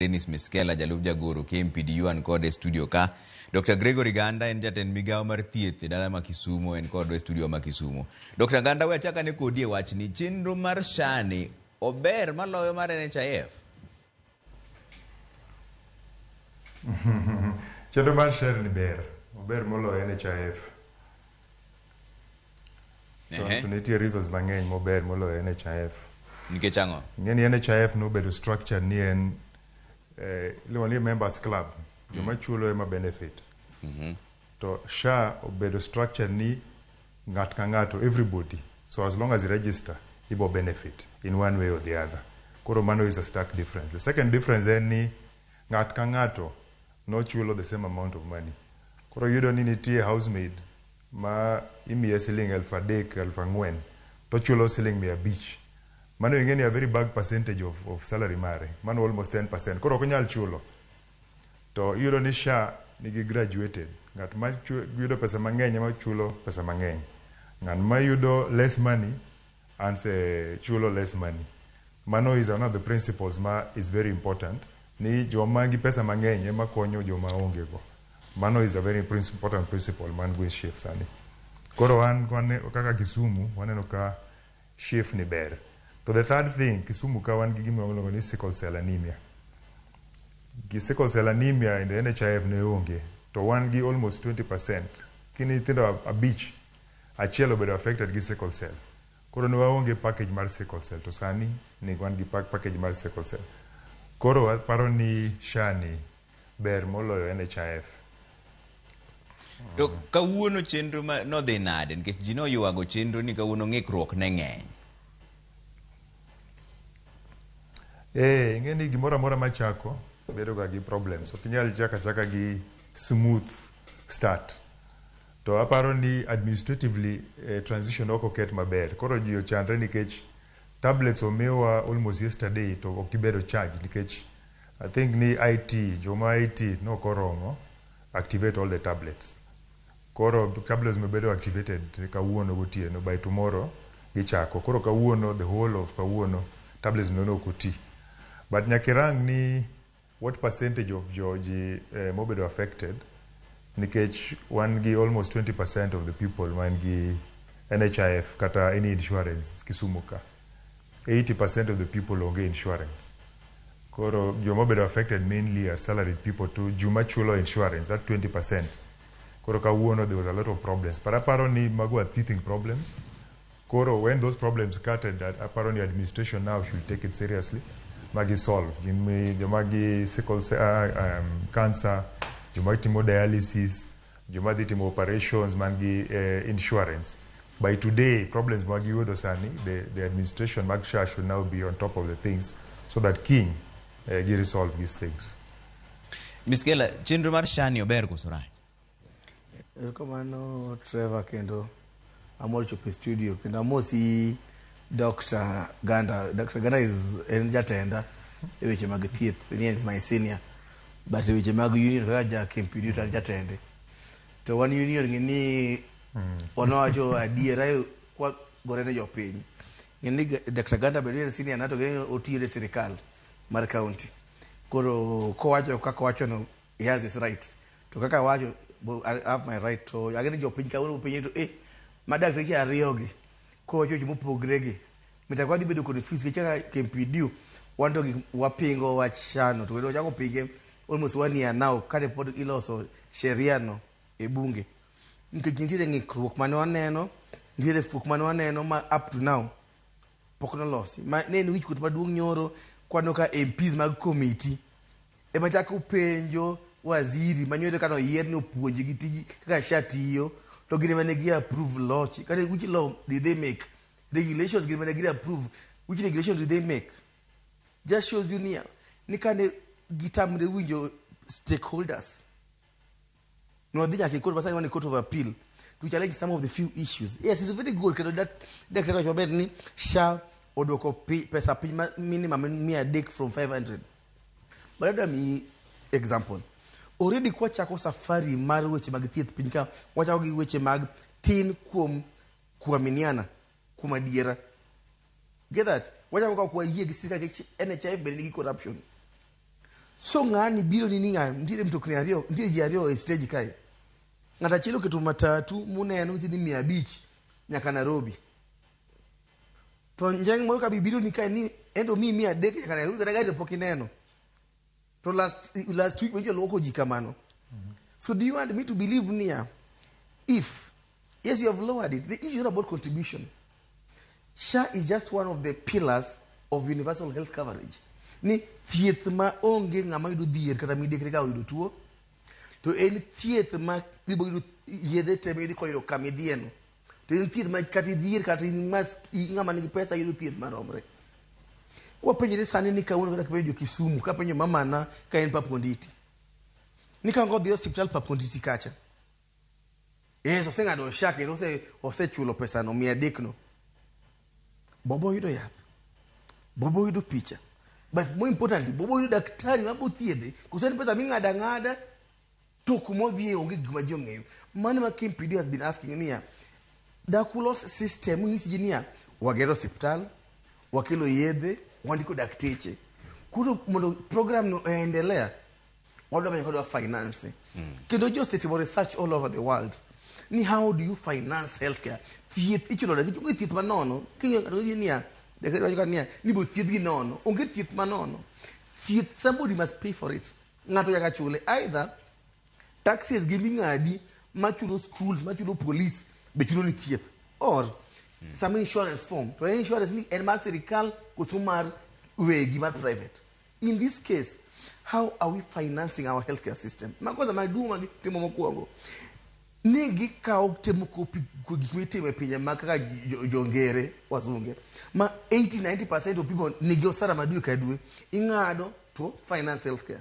Dennis Miskela, jalup jagoro KMPDU an kod e studio ka. Dr. Gregory Ganda en jatend migawo mar thieth e dala ma Kisumo en kod e studio ma Kisumo. Dr. Ganda we achaka ne kodi e wach ni chenro mar SHA ni ober maloyo mar NHIF. Chenro mar SHA ni ber, ober moloyo NHIF. To, Ehe. to nitie reasons mang'eny mober moloyo NHIF. Nikech ang'o? Ing'e ni NHIF nobedo structure ni en eh, iluongo ni members club, joma chulo ema benefit. To SHA obedo structure ni ng'at ka ng'ato, everybody. So as long as you register, ibo benefit in one way or the other. Koro mano is a stark difference. The second difference en ni ng'at ka ng'ato nochulo the same amount of money koro iyudo ni nitie house maid ma imiye siling elfu adek elfu ang'wen to chulo siling mia abich mano ing'e ni a very bag percentage of, of salary mare mano almost 10% koro ok onyal chulo to iyudo ni sha nigi graduated ng'at ma yudo pesa mang'eny ema chulo pesa mang'eny ng'at ma yudo less money Anse chulo less money. Mano is one of the principles ma is very important ni joma gi pesa mang'eny ema konyo joma onge go. Mano is a very princ- important principle man go e SHIF sani. Koro an wane, kaka Kisumu waneno ka SHIF ni ber. To the third thing, Kisumu ka wan gi gima iluongo ni sickle cell anemia. Gi sickle cell anemia in the NHIF ne onge. To wan gi almost 20%. Kini nyithindo abich Achiel obedo affected gi sickle cell. Koro ne waonge package mar sickle cell to sani ni wan gi package mar sickle cell. Koro aparo ni SHA ni ber moloyo NHIF. To kawuono chenro ma nodhi nade nikech ji noywago chenro ni kawuono ng'ikruok ne ng'eny. Eh, ing'e ni gimoro amora machako bedoga gi problems. Ok inyal chako achaka gi smooth start. To aparo ni administratively transition ok oket maber. Koro ji ochandre nikech tablets omiwa almost yesterday to ok gibedo charged nikech I think ni IT, joma IT nok oromo activate all the tablets. Koro tablets no bedo activated kawuono gotieno, by tomorrow gichako. Koro kawuono, the whole of kawuono tablets no ne ok oti. But nyaka irang ni. What percentage of jo ji eh, mobedo affected nikech wan gi almost 20% of the people man gi NHIF kata any insurance Kisumu ka 80% of the people onge insurance koro joma obedo affected mainly are salaried people to juma chulo insurance at 20% koro kawuono there was a lot of problems but aparo ni mago are teething problems Koro when those problems started, aparo ni administration now should take it seriously ma gi solve. Gin mi joma gi sickle cell, uh, um, cancer, joma timo dialysis, joma dhi timo operations man gi uh, insurance. By today, problems ma giyudo sani, the, the administration mag SHA should now be on top of the things so that kiny uh, gi resolve these things. Miss Kela, chenro mar SHA ni ober koso rach? Erokamano Trevor kendo amor chopo e studio kendo amosi Dr. Ganda. Dr. Ganda is en jatenda e weche mag thieth, ni en is my senior. But e weche mag union kaka ja Kempidu to an jatende. To wan union ng'e ni wanawacho adiera e- kwa gore ne jopiny. Ng'e ni Ga- Dr. Ganda bedo ni en senior na to ng'e ni otiyo ne sirikal mar county. Koro kowacho kaka owachono He has his rights. To kaka wacho, bo- I have my right to agere jopiny kawuono mopenye to eh ma dakteche ariyo gi koa chocho mopogre gi mita kwa dhi bedo confused gi chaka kempidio wan to gik wapingo wachano to kendo wachako pinge almost one year now kane pod iloso sheria no e bunge nikech nitiere ng'ikruok mane waneno nitiere fuok mane waneno ma up to now pok nolosi ma ne en wichkuot maduong' nyoro kwano ka MPs mag komiti Ema chako penjo waziri manyore kano yier ni opuonji gi tiji kaka sha tiyo to gine mane gi approve loch kane which law did they make regulations gine mane gi approve which regulations did they make just shows you near ni kane gitamre winjo stakeholders No, they can court, but I want a court of appeal to challenge some of the few issues. Yes, it's very good. Kendo that that that was ni sha odoko pi- pesa piny ma- minimum mia adek from 500. But let me example. Already kwa chako safari mar weche mag thieth piny ka wachako gi weche mag tin kuom kuaminiana kuom adiera. Get that? Wachako ka kuwa yie gi sirkal gi NHIF bende nigi corruption. So ng'ani biro ni ni ng'a- nitiere mtokni ariyo, nitiere ji ariyo e stage kae. Ng'ato achiel oketo matatu muneno ni mia abich nyaka Nairobi. To njeng' moro ka bibiro ni kae ni ento mi mia adek nyaka Nairobi kata gari to pok ineno. To last last week wenjo lwoko ji kamano. So do you want me to believe niya if Yes, you have lowered it. The issue is not about contribution. SHA is just one of the pillars of universal health coverage. Ni thieth ma onge ng'ama yudo dhier kata midekre ka oyudo tuo, to en thieth ma bibo yudo yedhe te miyudi koyudo kama idhiyeno. To en thieth ma kata idhier kata in mas ng'ama nigi pesa yudo thieth maromre. Kwapenjore sani ni kawuono kata kipenjo jo Kisumu, kapenjo mamana ka en Paponditi. Ni ka ngodhi osiptal Paponditi kacha, Yes, oseng'ado sha kendo ose- osechulo pesano mia adekno. Bobo oyudo yath. Bobo oyudo picha. But more importantly, Bobo oyudo daktari ma bothiedhe. Koso en pesa ming'ado ang'ada to kuma odhiye onge gima ji ong'eyo. Mano ma Kim Pidio has been asking niya, Dakulos system ng'isi ji niya, wagero osiptal, wakelo yedhe, wandiko dakteche. Koro mondo program no oendelea, wọ́n lọ́mọ yẹn kọ́ lọ finance kí ló jọ́ ṣètìmọ̀ research all over the world ni how do you finance healthcare thieth ichulo da onge thieth ma nono kinyo kata onge niya dakari wacho kata niya ni bo thieth gi nono onge thieth ma nono thieth somebody must pay for it ng'ato nyaka chule either taxes gi ming'adi machulo schools machulo police be chulo ni thieth or some insurance form to en insurance ni en mar sirikal koso mar wegi mar private In this case, how are we financing our healthcare system? Ma kwanza maduong' ma gitimo mokwongo ni gikawo temo kopi ku- gik mitimo e pinje ma kaka jo- jongere wazunge ma 80-90 of people nigi osara ma dwe ka dwe ing'ado to finance healthcare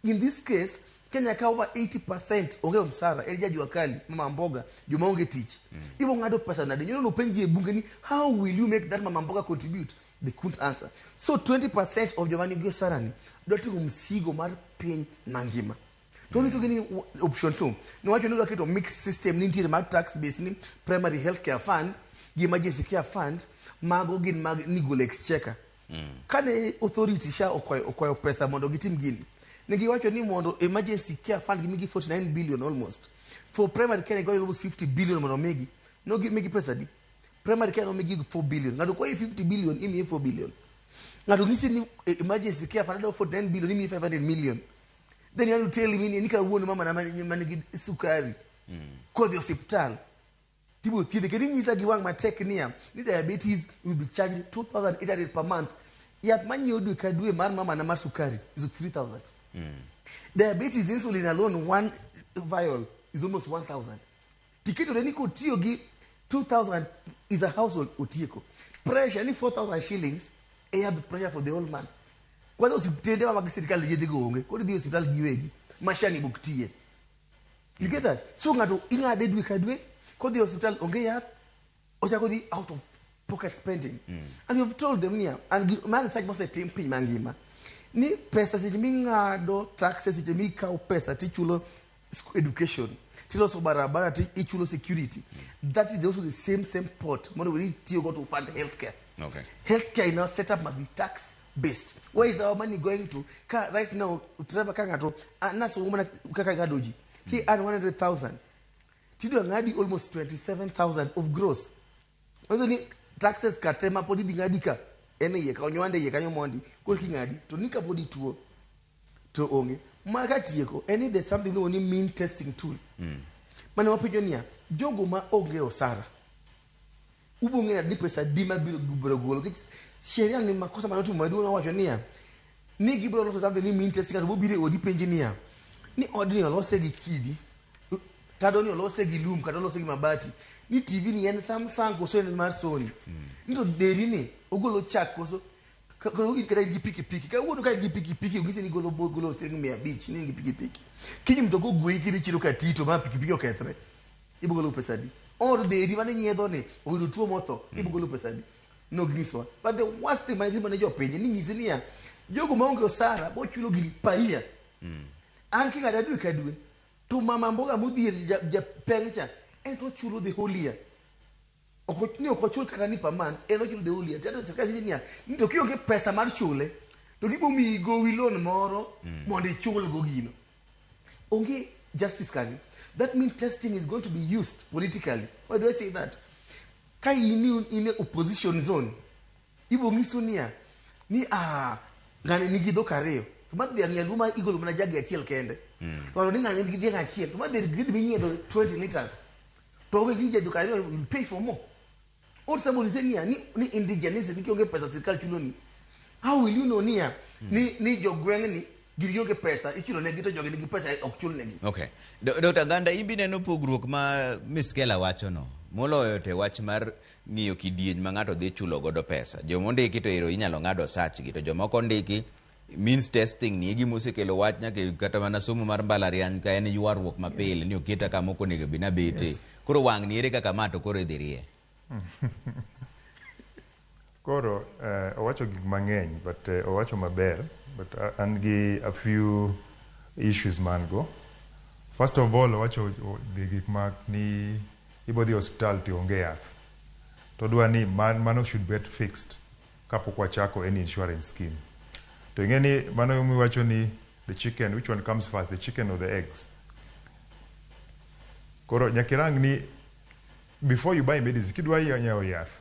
in this case kenya kawo over 80 onge msara elija jua kali mama mboga joma onge tich ibo ng'ado pesa nade nyoro nopenji e bunge ni how will you make that mama mboga contribute They couldn't answer. So 20% of joma nigi osarani dwa ting'o msigo mar piny mangima. To wanyisogi ni w- option two, niwacho ni waketo mixed system ni nitiere mar tax base ni primary health care fund gi emergency care fund mago gin mag nigolo exchequer. Kane authority sha okwayo okwayo pesa mondo gitim gini, ne giwacho ni mondo emergency care fund gimigi 49 billion almost. For primary care giwacho almost 50 billion mondo omigi. No gimigi pesa di. Primary care nomi gig 4 billion. Ng'ato kwayi 50 billion, imiye 4 billion. Ng'ato ng'isi ni eh, emergency care fund dwaro 49 billion, imiye 500 million. Then you want to tell me ni ni kawuono mama na man man gi sukari. Kodhi osiptal. Tibo thiedhe kendo inyisa gi wang' matek niya ni diabetes will be charged 2800 per month. Yath manyiewo dwe ka dwe mar mama na mar sukari is 3000. Diabetes insulin alone one vial is almost 1000. Tiketone ni kotiyo gi 2000 is a household otieko. Pressure ni 4000 shillings e yadh pressure for the whole month. Kwanza osiptende ma mag sirkal yedhe go onge. Koro idhi e osiptal giwegi. Mashani bok tiye. You get that? So ng'ato ing'ade dwe ka dwe, kodhi e osiptal onge yath, ochako dhi out of pocket spending mm. and you've told them niya and ma research mosetim piny mangima ni pesa seche ming'ado taxes seche mikawo pesa tichulo education tiloso barabara ti ichulo security mm. that is also the same same pot mondo we tiyo go to fund healthcare okay. healthcare in our setup must be tax based where is our money going to ka right now driver ka ng'ato ah, naso mana kaka ngadoji ki mm. earn 100000 tidwa ng'adi almost 27000 of gross manyiso ni taxes ka te ma pod idhi ng'adi ka en e iye ka onywande iye kanyo mondi koro king'adi to ni kapod ituo to onge ma ka tieko en ni there's something miluongo ni mean testing tool mane wapenjo niya jogo ma onge osara Ubiro ng'eyo ni pesa adi ma biro biro golo. Nikech sheria ni makosa mane otimo maduong' owacho niya, ni gibiro loso something ni mean testing, ng'ato biro biro e odi penji niya, ni odni olose gi kidi, tado ni olose gi lum kata olose gi mabati, ni TV ni en Samsung koso en mar Sony, ni to deri ni ogolo chak koso ka- ka- in kata in gi pikipiki kawuono ka in gi pikipiki onyisi ni golo bo- golo siling mia abich ni in gi pikipiki kiny mtoka ogweyi kidhi chiro katito ma pikipiki okethre ibogolo pesa adi or the eri mane nyiedho ni oyudo tuo motho mm. ibogolo pesa adi no giswa but the worst thing mane gima ne jo piny ni nyisi niya jogo maonge osara bochulo gini paia mm. an king'ada dwe ka dwe to mama mboga modhier japeng cha en to ochulo the whole year ok ni ok ochul kata ni per month en ochulo the whole year tiato sirkal nyisi niya ni to kionge pesa mar chule to gibo miyi gowi loan moro mm. mondo ichul go gino onge justice kanyo that means testing is going to be used politically why do i say that ka in in opposition zone Ibo ngisu niya ni ah ngani nigi dhok ariyo to ma dhiang nyaluo ma igolo mana jagi achiel kende mm. to ni ngani nigi dhiang achiel to ma dher grid minyiedho 20 liters to onge gi jadhok ariyo you pay for more old somebody say niya ni ni indigenous ni kionge pesa sirkal chulo ni how will you know niya mm. ni ni jogweng ni gin gionge pesa ichulo negi to jogi nigi pesa ok chul negi okay dr ganda imbi neno pogruok ma miss kela wacho no moloyo te wach mar ng'iyo kidieny ma ng'ato dhi chulo godo pesa. Joma ondiki to ero inyalo ng'ad osach gi to joma ok ondiki means testing ni e gima osekelo wach nyaka e- kata mana somo mar mbalariany ka en ywaruok mapile ni oketa kama ok onego bed nabete. Koro wang' ni ere kaka ma to koro idhi rie. Koro eh, owacho gik mang'eny but eh, owacho maber but a- an gi a few issues man go. First of all owacho o- gi gik ma ni Ibo dhi hospital to onge yath. To odwa ni mano should bet fixed kapok wachako any insurance scheme. To ing'e ni mano ema iwacho ni the chicken, which one comes first, the chicken or the eggs? Koro nyaka irang ni before you buy medicine, kidwa nyiewo yath,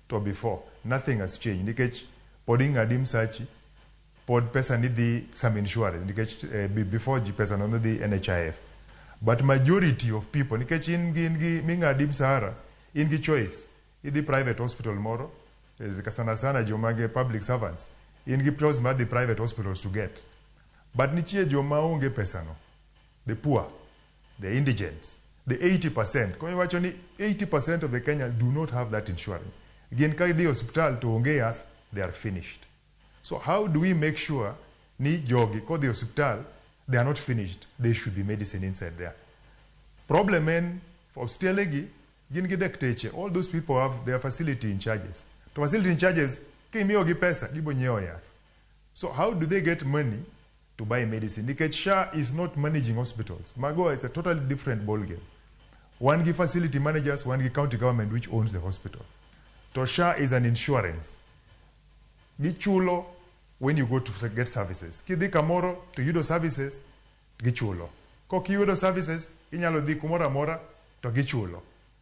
to before nothing has changed nikech pod ing'adi msachi pod pesa ni dhi some insurance nikech eh, be- before ji pesa no ne dhi NHIF but majority of people nikech in gi in gi ming'adi msara in gi choice idhi private hospital moro eh, ka sana sana joma ge public servants in gi choice mar dhi private hospitals to get but nitie joma onge pesano the poor The indigents, the 80 percent, koro iwacho ni 80 percent of the Kenyans do not have that insurance. Gin ka gidhi e osiptal to onge yath, they are finished. So how do we make sure ni jogi kodhi e osiptal, they are not finished, there should be medicine inside there. Problem en for hospitale gi gin gi dakteche, all those people have their facility in charges. To facility in charges, kimiyogi pesa, gibonyiewo yath. So how do they get money to buy medicine nikech SHA is not managing hospitals. Mago is a totally different ball game. Wan gi facility managers, wan gi county government which owns the hospital. To SHA is an insurance. Gichulo when you go to get services. Kidhi kamoro to yudo services gichulo. Kok iyudo services inyalo dhi kumoro amora to gichulo.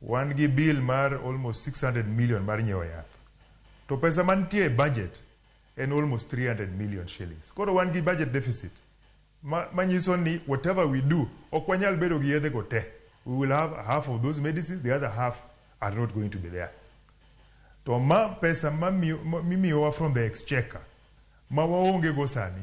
Wan gi bill mar almost 600 million mar nyiewo yath. To pesa mantie e budget en almost 300 million shillings. Koro wan gi budget deficit ma, manyiso ni whatever we do ok wanyal bedo gi yedhe go te. We will have half of those medicines, the other half are not going to be there. To ma pesa mamiyo- mimiyowa from the exchequer ma waonge go sani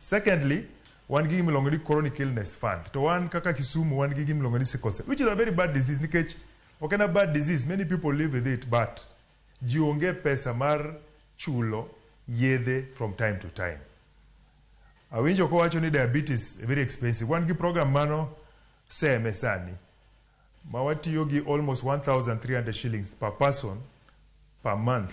Secondly, wan gi gimiluongo ni chronic illness fund. To wan kaka Kisumu wan gi gimiluongo ni sickle cell, which is a very bad disease nikech ok en a bad disease, many people live with it but ji onge pesa mar chulo yedhe from time to time. Awinjo kowacho ni diabetes very expensive. Wan gi program mano seme sani ma watiyo gi almost 1300 shillings per person per month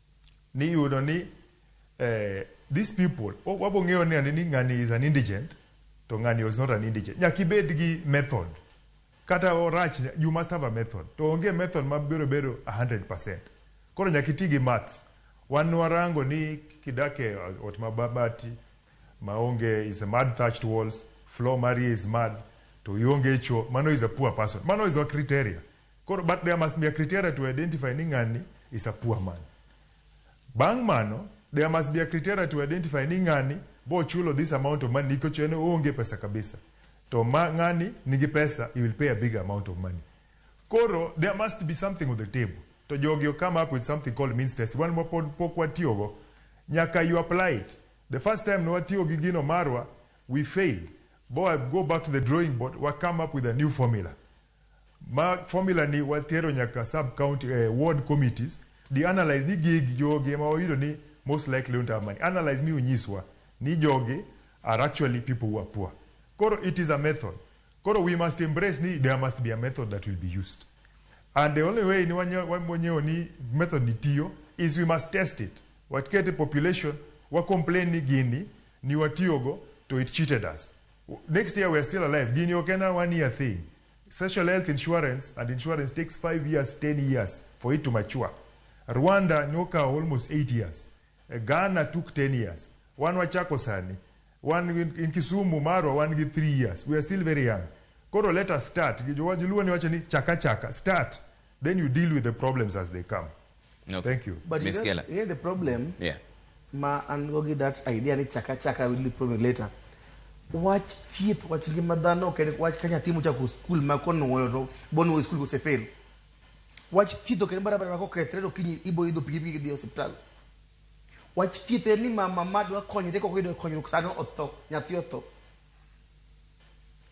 ni yudo ni eh, these people wa- wabo ng'eyo ni ane ni ng'ani is an indigent to ng'ani is not an indigent nyaka ibed gi method kata orach you must have a method to onge method ma biro bedo 100% koro nyaka iti gi maths wan warango ni kidak e ot ma babati ma onge is a mud thatched walls floor mari is mud to ionge cho mano is a poor person mano is a criteria Koro but there must be a criteria to identify ni ng'ani is a poor man. Bang' mano there must be a criteria to identify ni ng'ani bo chulo this amount of money nikech en oonge pesa kabisa. To ma ng'ani nigi pesa he will pay a big amount of money. Koro there must be something on the table. To jogi o come up with something called means test. Wan ma pod pok watiyogo nyaka you apply it. The first time ne watiyo gi gino marwa we failed. Bo go back to the drawing board wa come up with a new formula. Ma formula ni watero nyaka sub county eh, ward committees di analyze ni gig jogi ema wayudo ni most likely don't have money. Analyze mi unyiswa ni jogi are actually people who are poor. Koro it is a method. Koro we must embrace ni there must be a method that will be used. And the only way ni wanyo- wamonyeo ni method ni tiyo is we must test it. Wakete population wa complain ni gini ni watiyogo to it cheated us. Next year we're still alive. Gini ok en a one year thing. Social health insurance and insurance takes five years, ten years for it to mature. Rwanda nokawo almost eight years. Eh, Ghana took ten years. Wan wachako sani. Wan in in Kisumu marwa wan gi three years. We are still very young. Koro let us start. Joluo ni wacho ni chaka chaka. Start. Then you deal with the problems as they come. Okay. Thank you. But Miss Kela. Here the problem. Yeah. Ma an go give that idea ni chaka chaka will be problem later. Watch theater, watch ngima dhano, okay, watch kanya timu cha ku school ma kono woyo to bon wo school go se fail. Watch theater kene barabara ma ko kretrero kinyi ibo ido pigi pigi di hospital. Watch theater ni mama madwa konyo de ko ko ido konyo kusano otho, nyathi otho.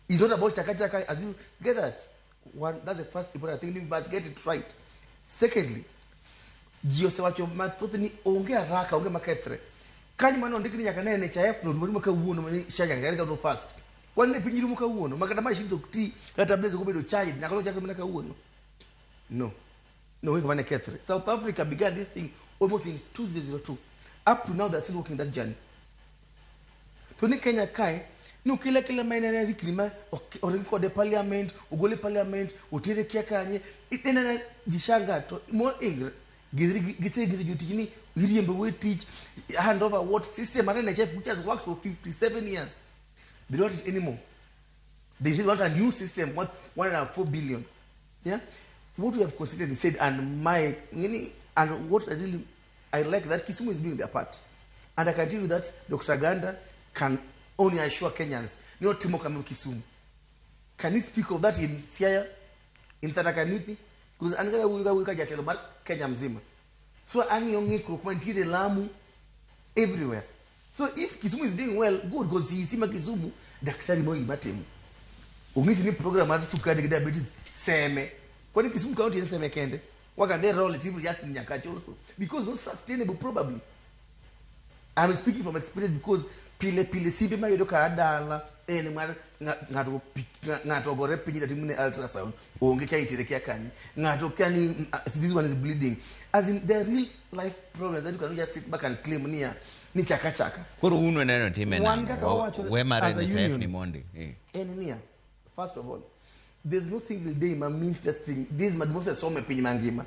It's not about chaka chaka as you get that. One, that's the first important thing. You must get it right. Secondly, ji osewacho mathoth ni onge haraka, onge makethre. Kanyo mano ondik ni nyaka ne NHIF no rumo kawuono ma shanya ngari kawuono fast. Wan ne piny rumo kawuono, makata machines ok ti, kata tablets ok obedo charged, nyaka lo chakre mana kawuono. No. No, wait, one Catherine. South Africa began this thing almost in 2002. Up to now, they're still walking that journey. To ni Kenya kae, ni ukila kila maina na rikni ma oringi kode parliament, ugole parliament, utere kia kanye, itena na jishanga to more angry. Gizri gizri gizri jutiji ni iriembe we teach hand over what system and NHF which has worked for 57 years. They don't want it anymore. They said, what a new system, what 104 billion. Yeah? What we have considered is said, and my, and what I really, I like that Kisumu is doing their part. And I can tell you that Dr. Ganda can only assure Kenyans, no Timo Kamil Kisumu. Can he speak of that in Siaya, in Tarakanipi? Because angalia huyu huyu kaja Telomar Kenya mzima. So angi ongi kurukuma ntire Lamu everywhere. So if Kisumu is doing well, good because he sima Kisumu daktari Moi Matemu. Ungisi ni program at sukari ki diabetes seme. Kwani Kisumu county ni seme kende. What can they roll it even just in Nyakachi also? Because not sustainable probably. I'm speaking from experience because pile pile simbe mayodo ka adala ene ng'ato ng'ato ng'ato ogore piny dati mune ultrasound onge ka itere kia kanyi ng'ato kia ni mm, ah, this one is bleeding as in there are real life problems that you cannot just sit back and claim niya ni chaka chaka koro uno neno time Wan nang'o? kaka Wa- wawacho ni- we mare as a ni tayef union. ni mondi Eh. en niya first of all there's no single day ma mean testing this ma gimose some piny mangima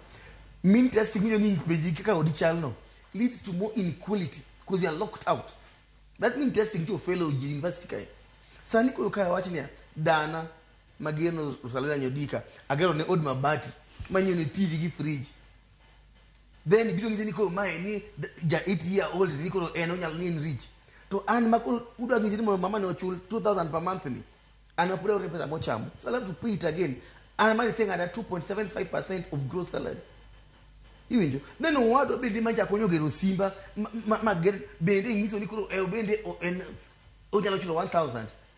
mean testing winyo ni peji kaka odi chalno leads to more inequality because you are locked out that mean testing to fellow university kae sani koro kae wach niya dana Mageno Rusalina Nyodika, agero ne od mabati manyo ne TV gi fridge. Then biro ng'ise ni koro mae ni ja 8 year old ni koro en onyalo ni in rich. To an ma koro udwa ng'ise ni mondo mama ne ochul 2000 per month ni. An apura ore pesa mochamo. So I'll have to pay it again. An mari saying ada 2.75% of gross salary. Iwinjo? Then owadwa bende ma jakonyo gero simba ma, ma, ma ger, bende ng'iso ni koro eh, bende o- en onyalo chulo 1000.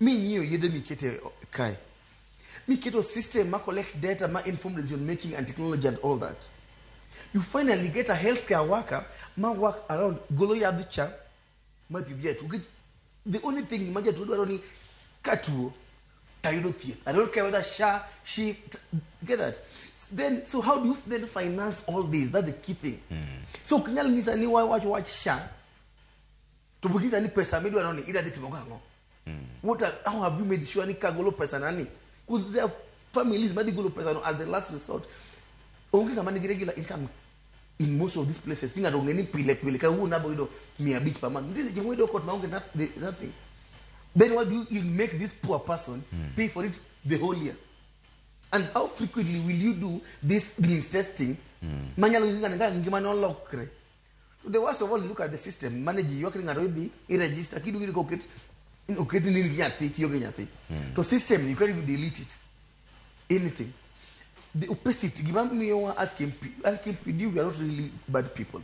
Ming'iyo yedhe miketo e o- kae. Miketo system ma collect data ma inform decision making and technology and all that. You finally get a healthcare worker ma work around golo yadh cha ma thieth jatuo. Nikech The only thing ma jatuo dwaro ni katuo tayudo thieth. I don't care whether sha, she, t- get that. Then, so how do you then finance all this? That's the key thing. So kinyal ng'isa ni wawach wach sha To bukisa ni pesa midwa noni ida dhi timo gang'o? Mm. What are, how have you made sure ni kagolo pesa nani? Because there are families madhi golo pesa no as the last resort. Onge kama nigi regular income in most of these places. Tinga to ngeni pile pile ka wuon abo yudo 500 per month. Ndizi jimwe do kot maonge nothing. Then what do you make this poor person mm. pay for it the whole year? And how frequently will you do this means testing? Mm. Manyalo ngingana ngimane olokre. The worst of all is look at the system. Manage you can already register kidu kidu koket oket nini gi nyathi tiyo gi nyathi. Hmm. To system you can even delete it. Anything. The opposite gima miyo wa asking asking for you we are not really bad people.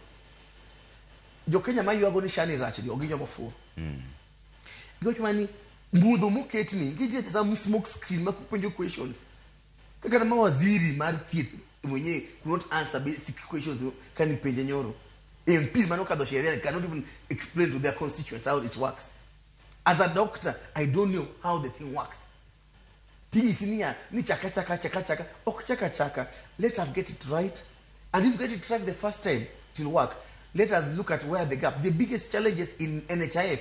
Jo Kenya ma yuago ni shani rach ni oginyo mofuo. Mm. Gima ni mudho moketni gi je some smoke screen ma kupenjo questions. Kaka ma waziri mar thieth mwenyewe could not answer basic questions kani penje nyoro. MPs mano kadho sheria cannot even explain to their constituents how it works. As a doctor, I don't know how the thing works. Tinyisi niya ni chaka chaka chaka chaka ok chaka chaka. Let us get it right. And if you get it right the first time, it will work. Let us look at where the gap. The biggest challenges in NHIF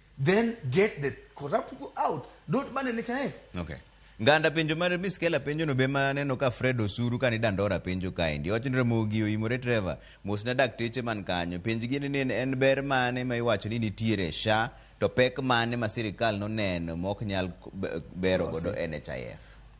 then get the corrupt people out don't ban NHIF Okay. Nganda penjo mar Miss Kela penjo no be ma aneno ka Fred Osuru ka ni dandora penjo kaendi. Owacho ni Ramogi oimore Trevor. Mos na dakteche man kanyo. Penj gi ni en- en ber mane ma iwacho ni nitiere e SHA to pek mane ma sirikal noneno ma ok nyal k- be- bero godo NHIF.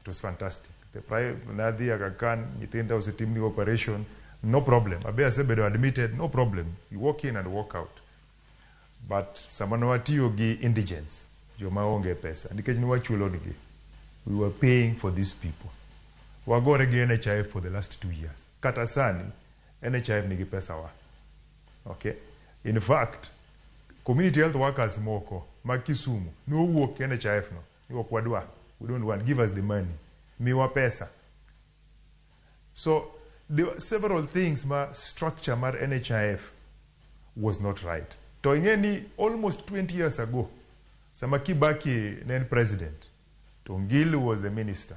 It was fantastic. The prime nadhi Agakan, nyithinda osetimni operation, no problem. Abe asebedo admitted, no problem. You walk in and walk out. But sama ne watiyo gi indigents, joma onge pesa, nikech ne wachulonigi, we were paying for these people. Wagore gi NHIF for the last two years. Kata sani, NHIF nigi pesa wa. Okay? In fact, community health workers moko ma Kisumu nowuok NHIF no ok wadwa we don't want give us the money miwa pesa so there were several things ma structure mar NHIF was not right to ing'e ni almost 20 years ago sama Kibaki ne en president to Ngilu was the minister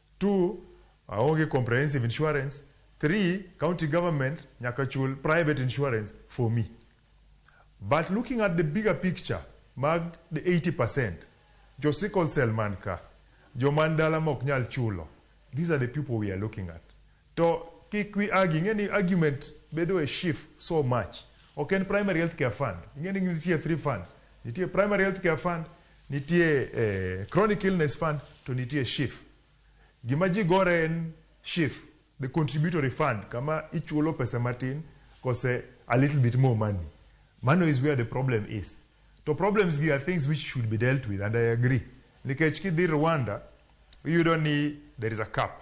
Two, aonge comprehensive insurance. Three, county government nyaka chul private insurance for me. But looking at the bigger picture mag the 80%, jo sickle cell man ka, jo man dala mok nyal chulo, these are the people we are looking at. To kik wi agi, ing'e ni argument bedo e SHIF so much. Ok en Primary Health Care Fund. Ing'e ni nitie three funds. Nitie Primary Health Care Fund, nitie Chronic Illness Fund, to nitie SHIF. Gima ji gore en SHIF, the contributory fund, kama ichulo pesa matin kose a little bit more money. Mano is where the problem is. To problems gi are things which should be dealt with and I agree. Nikech kidhi Rwanda, iyudo ni there is a cap.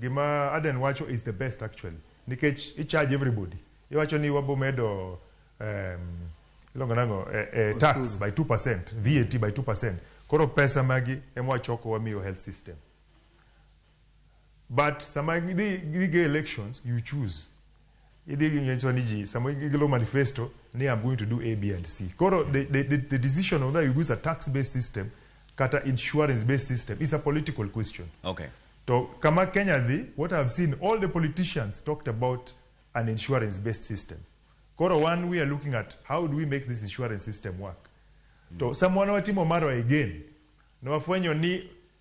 Gima Aden wacho is the best actually nikech i charge everybody. Iwacho ni wabo medo um, ilongo nango eh, eh, tax by 2%, VAT by 2%. Koro pesa magi ema wachoko wamiyo health system. But sama gidhi gidhi go elections you choose Idhi gi ngecho ni ji sama igolo manifesto ni I'm going to do A, B and C. Koro the, the, the, the decision of whether you use a tax based system kata insurance based system is a political question. Okay. To kama Kenya dhi, what I've seen all the politicians talked about an insurance based system. Koro one we are looking at how do we make this insurance system work. Mm. To samwana watimo maro again. Na wafwenyo ni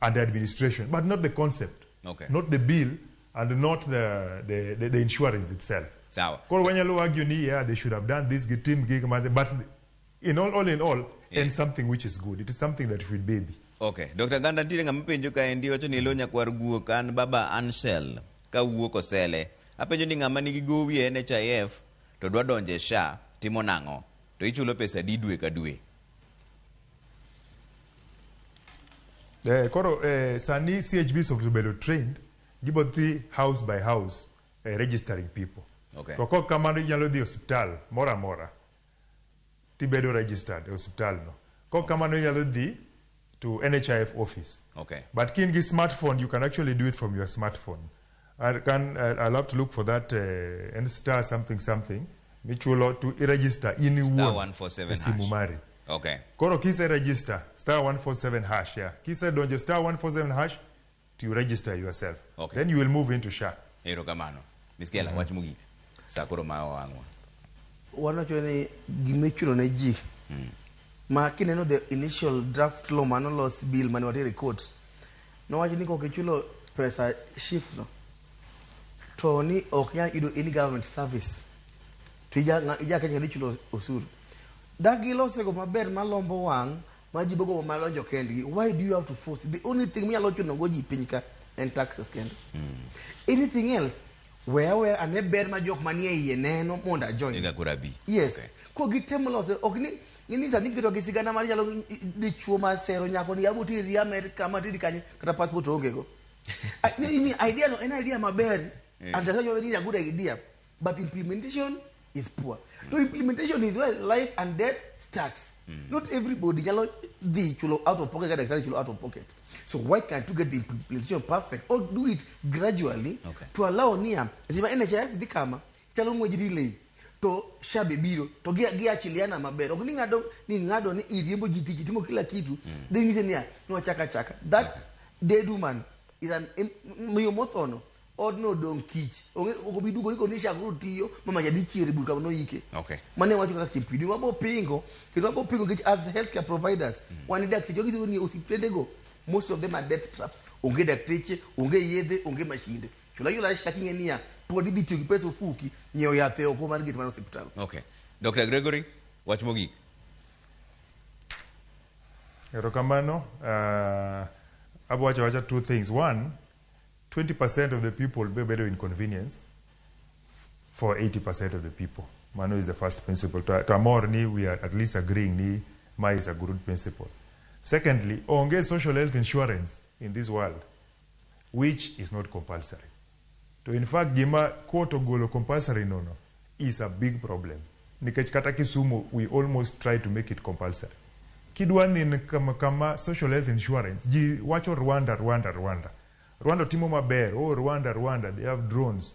and the administration, but not the concept, okay. not the bill, and not the, the, the, the insurance itself. Sawa. Kwa wenye lo argue ni yeah they should have done this team gig but in all all in all yeah. and something which is good. It is something that should be. Okay. Dr. Ganda ntiere ng'ama penjo ka endi wacho ni ilonya kwar guok an baba Anshel ka wuok osele. Apenjo ni ng'ama nigi gowi e NHIF to dwa donje sha timo nang'o? To ichulo pesa di dwe ka dwe. Eh, koro eh, sani CHVs obedo trained gibo dhi house by house eh, registering people. Okay. To kok kamano inyalo dhi hospital moro amora tibedo registered e hospital no. Kok kamano inyalo dhi to NHIF office. Okay. But kin gi smartphone you can actually do it from your smartphone. I can, I'll have to look for that uh, and star something something michulo to register in star 147 simu mari okay koro kise register star 147 hash yeah kise donjo star 147 hash to register yourself okay. then you will move into sha ero kamano miskela mm -hmm. wach mugik sa koro ma wangwa wanocho ni gimechulo ne ji mm. ma kineno the initial draft law manolos bill mane watere court Nowach ni kok ichulo pesa SHIF no to ni ok nyal yudo any government service to ija ija Kenya ni chulo osuru. Da gilose go maber malombo wang' ma ji bogo malonjo kendgi. Why do you have to force? The only thing minyalo chuno go ji piny ka en taxes kende. Anything else weya weya ane ber ma jok manie iye neno mondo ajoin. Eka kurabi. Yes. Okay. Ko gitem lose ok ni Ng'ini sani iketo gi sigana mar chalo dichuo ma sero nyako ni yago tiri Amerika ma tiri kanyo kata passport onge go. Ni idea no en idea maber eh. and that is a good idea but implementation is poor. To implementation is where life and death starts. Mm. Not everybody nyalo dhi chulo out of pocket kata daktari chulo out of pocket. So why can't you get the implementation perfect or do it gradually okay. to allow niya. Sima NHIF dhi kama Chalo ng'uej relay to shabe biro to gi gi achiliana maber ok ni ngado ni ngado ni iriembo jiti kitimo kila kitu mm. then ngise niya nwachaka chaka that okay. dead woman is an miyo mothono odno odong kich onge ok bi dugo ni koni shakro tiyo mama jadi chiere burka no yike okay mane wacho kaka kimpidi wabo pingo kendo wabo pingo kich as healthcare providers mm. wan dak tiyo gizo ni osiptende go most of them are death traps onge dakteche onge yedhe onge mashinde Chula yula sha king'e niya, pod idhi tiyo gi pesa ofuki nyiewo yath e oko mar gate mar osiptal. Okay. Dr. Gregory, wach mogik. Erokamano. Uh, abwacho wacha two things. One, 20% of the people be bedo inconvenience for 80% of the people. Mano is the first principle. To, to amor ni we are at least agreeing ni ma is a good principle. Secondly, onge social health insurance in this world. which is not compulsory. To in fact gima court ogolo compulsory no no is a big problem nikech kata Kisumu we almost try to make it compulsory. Kidwa nin kama, kama social health insurance ji wacho Rwanda Rwanda Rwanda. Rwanda timo maber. Oh Rwanda Rwanda they have drones.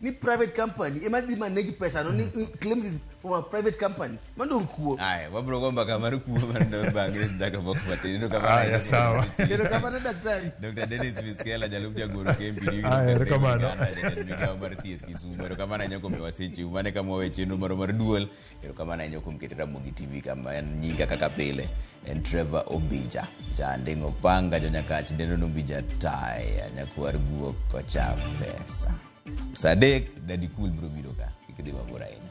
ni private company ema dhi manage pesa no ni ni claims is from a private company mando kuo Aya, wabro go mbaka mar kuo mar ndo bangre ndaka bok matin. Ndo kama. Aya, sawa. kendo kamano daktari Dr. Dennis Miskela jalup jagoro kempi ni Ah, erokamano. migawo mar thieth Kisumu. Erokamano anyako miwa seche. Mane kama wawe chenro moro mar duol Erokamano ahinya kuom keto Ramogi TV kama en nyinga kaka pile en Trevor Ombija janding opanga jonyakach Denon Ombija taya nyakwar guok kocha pesa saa adek Daddy Cool biro biro ka kik idhi mabor ahinya